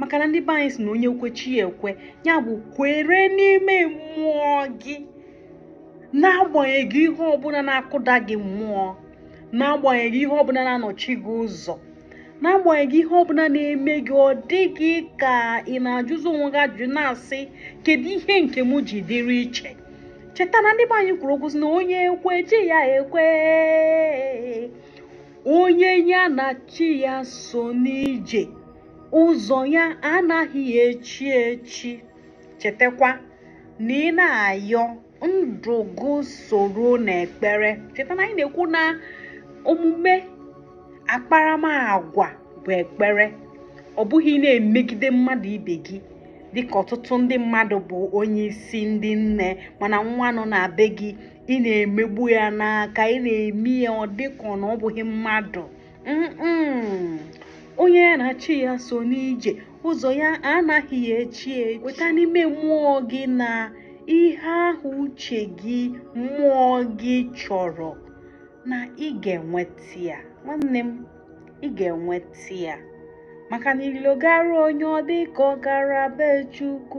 maka na ndị be anyị si na onye kwe chi ya ekwe ya bụ kwere n'ime mmụọ gị n'agbanyeghị ihe ọbụla na-akụda gị mmụọ n'agbanyeghị ihe ọbụla na-anọchi gị ụzọ n'agbanyeghị ihe ọbụla na-eme gị ọ dị gị ka ị na-ajụzi onwe gị ajụjụ na-asị kedu ihe nke m ji dịrị iche cheta na ndị be anyị kwuru okwu sị na onye kwe chi ya ekwe onye ya na chi ya so n'ije ụzọ ya anaghị echi echi chetakwa na ị na-ayọ ndụ gị soro n'ekpere cheta na anyị na-ekwu na omume akparamagwa bụ ekpere ọ bụghị na-emegide mmadụ ibe gị dịka ọtụtụ ndị mmadụ bụ onye isi ndị nne mana nwa nọ na be gị ị na-emegbu ya n'aka ị na-eme ya ọ dịka na ọ bụghị mmadụ onye ya na chi ya so n'ije ụzọ ya anaghị echi echi kweta n'ime mmụọ gị na ihe ahụ uche gị mmụọ gị chọrọ na ị ga-enweta ya nwanne m ị ga-enweta ya maka na ilo gara onye ọ dị ka ọ gara be Chukwu